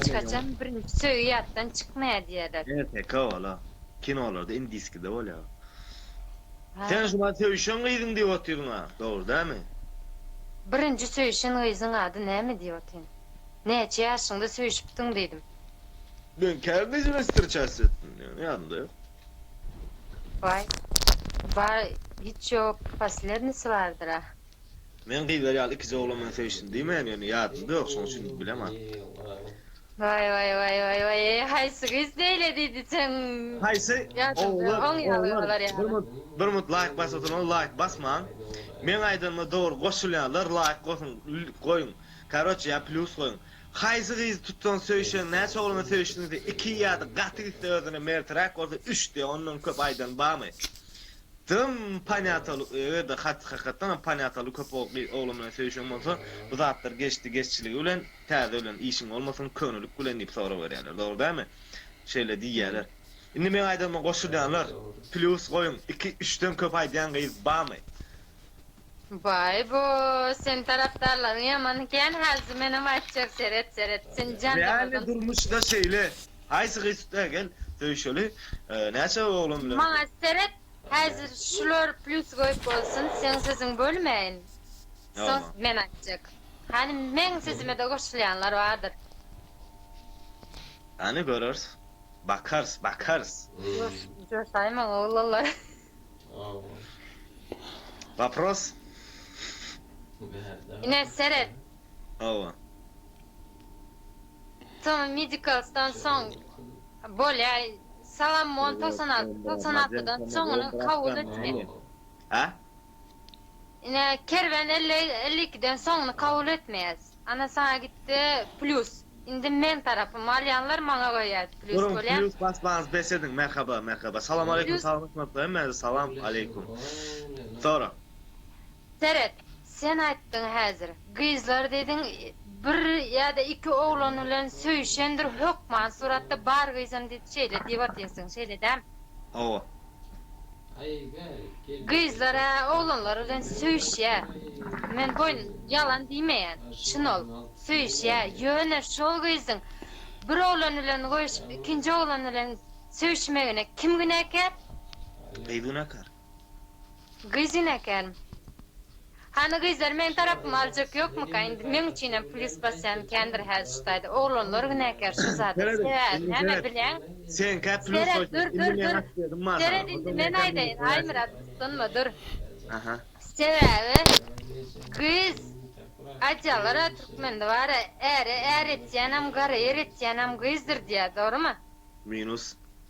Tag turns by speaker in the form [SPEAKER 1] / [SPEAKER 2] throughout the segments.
[SPEAKER 1] Hiç haçan birinji söýgi ýatdan çykmaýar diýerler. Ýa teke bola.
[SPEAKER 2] Kinolarda indiskide bolýar.
[SPEAKER 1] Sen şuňa söýşen
[SPEAKER 2] gyzyň diýip otyryň a, dogry dämi? Birinji
[SPEAKER 1] söýşen gyzyň ady näme diýip otyryn. Näçe ýaşyňda söýşüpsiň diýdim. Men
[SPEAKER 2] käbir gyz bilen strças etdim diýen ýadymda ýok.
[SPEAKER 1] Waý. Bar hiç ýok poslednisy bardyr a. Men gyzlar
[SPEAKER 2] ýaly ikije oglan bilen söýüşsin diýmeýän ýöne ýadymda ýok şoň üçin bileman. Waý waý waý waý waý eý haýsy gyz beýle diýdi seň Haýsy
[SPEAKER 1] ýadymda
[SPEAKER 2] oglan oň ýaly oglan bolar bir ýaly. munt bir munt laýk basyp oturanlar laýk basmaň meň aýdanyma dogry goşulýanlar laýk gosuň goýuň karoçe ýa plýus goýuň haýsy gyzy tutsaň söýüşeň näçe oglan bilen söýüşdiň diýse iki ýada gaty gitse özüne merträk bolsa üç diýe ondan köp aýdan bamy. Dym panýataly eger-de hat hakykatdan hem panýataly köp oglan bilen söýüşen bolsa bu zatlar geçdi geçjiligi bilen täze bilen işiň bolmasyn könelik bilen diýip sorag berýärler dogry dälmi şeýle diýýärler indi meň aýdanma goşulýanlar plýus goýuň iki üçden köp aýdýan gyz bamy.
[SPEAKER 1] Baý bu sen tarapdarlaryň ýaman ekän hajy menem aýtjak seret seret sen jandamyrdym. Real durmuşda
[SPEAKER 2] şeýle haýsy gyz tuta gel söýüşeli näçe oglan bilen. Maňa seret
[SPEAKER 1] häzir şular plýus goýup bolsun seň sesiň bölmäýin soň men aýtjak hany meň sesimede goşulýanlar bardyr. Hany
[SPEAKER 2] göreris bakarys bakarys.
[SPEAKER 1] Joşaýmaň oglanlar.
[SPEAKER 2] Wapros?
[SPEAKER 1] Ine, seret. Hawa. Soň Medicals-dan soň bolýar. Salamon togsan alty, togsan altydan soňuny kabul etmeli. Hä? Ine, Kerwen elli, elli ikiden soňuny kabul etmeýäs. Ana saňa gitdi plýus. Indi men tarapym alýanlar maňa goýýat plýus Durun bolýa. plýus basmaňyz bes
[SPEAKER 2] ediň merhaba merhaba salam aleýkum Plýus. salamlaşmadyk hemmäňize salam aleýkum sora.
[SPEAKER 1] Seret sen aýtdyň häzir gyzlar diýdiň bir ýada iki oglan bilen söýüşendir hökman suratda bar gyzam diýip şeýle diýip otyrsyň şeýle dämi. Hawa. Gyzlar ä oglanlar bilen söýüşýä men boýun ýalan diýmeýän çyn ol söýüşýä ýöne şol gyzyň bir oglan bilen goýuşyp ikinji oglan bilen söýüşmegine kim günäkär? Gyz
[SPEAKER 2] günäkär.
[SPEAKER 1] Gyz günäkärmi? Hany gyzlar meň tarapymy aljak ýokmyka indi meň üçinem plis basýan kändir häziştaýda oglanlar günäkär şu zada sebäbi näme bileň seret
[SPEAKER 2] dur dur dur
[SPEAKER 1] seret indi men aýdaýyn Aýmyrat gyssanma dur
[SPEAKER 2] sebäbi
[SPEAKER 1] gyz aýdýalara türkmende bara äre är etýänem gara ýer etýänem gyzdyr diýýär dogrymy. Minus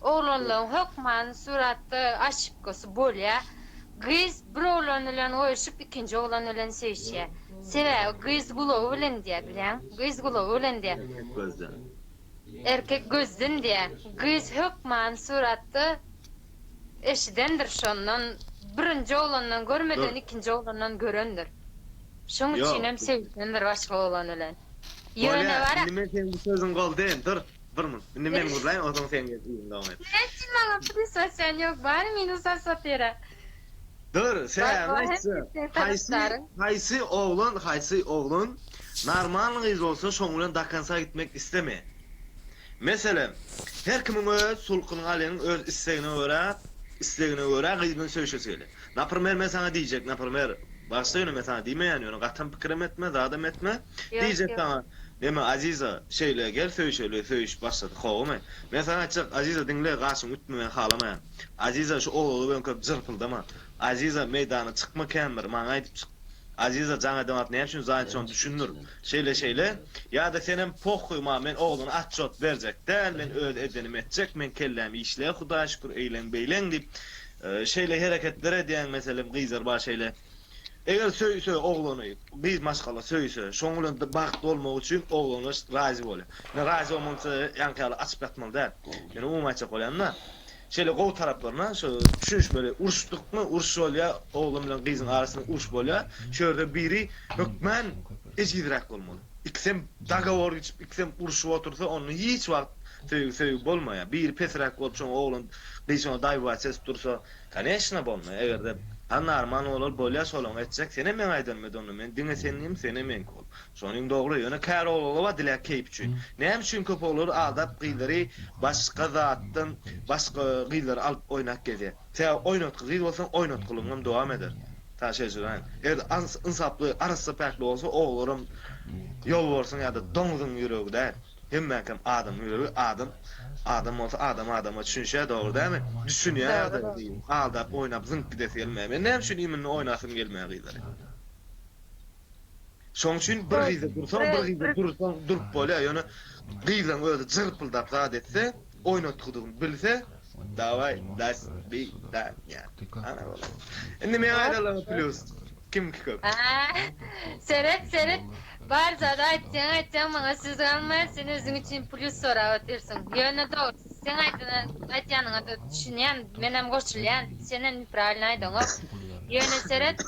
[SPEAKER 1] Oglanlaryň hökmany suratda oşipkasy bolýar. Gyz bir oglan bilen goýşup, ikinji oglan bilen söýüşýär. Sebäbi gyz gulagy bilen diýýär, bilýäňmi? Gyz gulagy bilen diýýär. Erkek gözden. Erkek gözden diýýär. Gyz hökmany suratda eşidendir şondan, birinji oglandan Dur. görmeden ikinji oglandan görendir. Şoň Ýok. üçinem söýüşendir başga oglan bilen. Ýöne Bolýar. bar-a. Indi men seniň bu sözüňi
[SPEAKER 2] goldaýyn. Dur. Bir mun. Indi men gürläýin, onsoň sen gel iziňi dowam et. Ine sen maňa plis
[SPEAKER 1] atýan ýok, bary minus asatyra. Dur,
[SPEAKER 2] sebäbini aýtjak. Haýsy, haýsy oglan, haýsy oglan normalny gyz bolsa şoň bilen do konca gitmek islemeýär. Meselem, her kimiň öz sulkunyň aleniň öz islegine görä, islegine görä gyz bilen söýüşesi gelýär. Naprmer men saňa diýjek, naprmer, bagyşla ýöne men saňa diýmeýän ýöne gatam pikirem etme, zadam etme, Ýok, diýjek ýok. saňa, Eme, Aziza, şeýle, gel söýüşeli, söýüşip başladyk, howamy? Men saňa aýtjak, Aziza, diňle, gaşyňy ütme, men halamaýan. Aziza, şu oglaga böňküp jyrpyldama. Aziza, meýdana çykma kän bir, maňa aýdyp çyk. Aziza, jaň edem at, näme üçin Zaýat şony düşündir. Şeýle, şeýle, ýa-da senem pohuý maňa, men oglana atjot berjek däl, men öz edenimi etjek, meň kelläm işle, Hudaýa şükür, eýleň, beýleň diýip, Şeýle hereketler edýäň meselem gyzlar bar şeýle eger söýse oglany gyz maşgala söýse şoň bilen bagtly bolmak üçin oglana razy bolýar. Men razy bolmança ýaňky ýaly açyp ýatmaly däl. Men umumy aýtjak bolýanda şeýle gowy taraplaryna şo düşünişmeli uruşdykmy uruş bolýar oglan bilen gyzyň arasynda uruş bolýar şu ýerde biri hökmän ejizräk bolmaly. Ikisem dagowor geçip ikisem uruşyp otursa onda hiç wagt söýgi söýgi bolmaýar. Biri pesräk bolup şoň oglan Gyz şonda daýyba ses dursa, Koneşna bolma, eger-de Hanna arman bolal bolýa şolaň etjek, senem meň aýdanym et onda, men diňe seninim, senem meňki bol. Şonyň dogry, ýöne käri oglanlar bar dilek keýp üçin. Näme üçin köp oglanlar aldap gyzlary başga zatdan başga gyzlary alyp oýnap gezýär. Sebäbi oýnatgy gyz bolsaň oýnatgylygyň hem dowam eder. Saňa şeýşiraýyn. Eger-de yns ynsaply arassa päkli bolsa oglaram ýolbarsyň ýa-da doňzuň ýüregi däl. Hemmäkam adam ýüregi adam adam bolsa adam adama çüşýä dogry dämi düşünýä ýagdaýa gyzyň aldap oýnap zyňyp gidesi gelmeýä men näme üçin iýminde oýnasym gelmeýä gyzlary şoň üçin bir gyza dursaň bir gyza dursaň durup bolýa ýöne gyzyň özi jyrpyldap zat etse oýnatgydygyny bilse daway das bi da nya ana bolar indi meň aýdanlaryma plýus kimki köp. Seret
[SPEAKER 1] seret bar zady aýtsaň aýtsaň maňa söz galmaýar sen özüň üçin plýus sorap otyrsyň ýöne dogrysy seň aýdana aýtýanyňa da düşünýän menem goşulýan senem nepravilny aýdaňok ýöne seret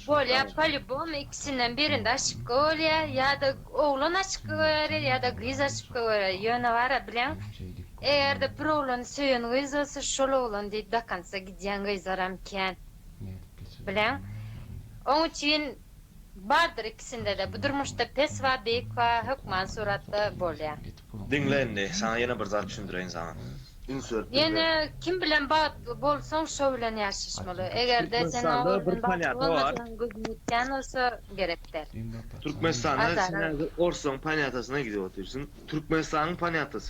[SPEAKER 1] bolýa polýubom ikisinden birinde aşipka bolýa ýada Oglan açykka görä ýa-da gyz açykka görä, ýöne bara bileň. Eger-de bir oglany söýen gyz bolsa, şol oglan diýip do konca gidýän gyzlaram kän. Bileň. Oň üçin bardyr ikisinde-de, bu durmuşda pes bar, beýik bar, hökman suratda bolýar. Diňle indi,
[SPEAKER 2] saňa ýene bir zat düşündireýin saňa. Insert Ýene
[SPEAKER 1] Bilmek. kim bilen bagtly bolsaň şo bilen ýaşaşmaly. Egerde sen Türkmenistanda ogly bir bilen bagtly ponýatny bar.
[SPEAKER 2] bolmasaň gözüň ýetýän bolsa
[SPEAKER 1] gerek däl. Azara Türkmenistanda
[SPEAKER 2] sen häzir orslaň ponýatasyna gidip otyrsyn. Türkmenistanyň ponýatasy.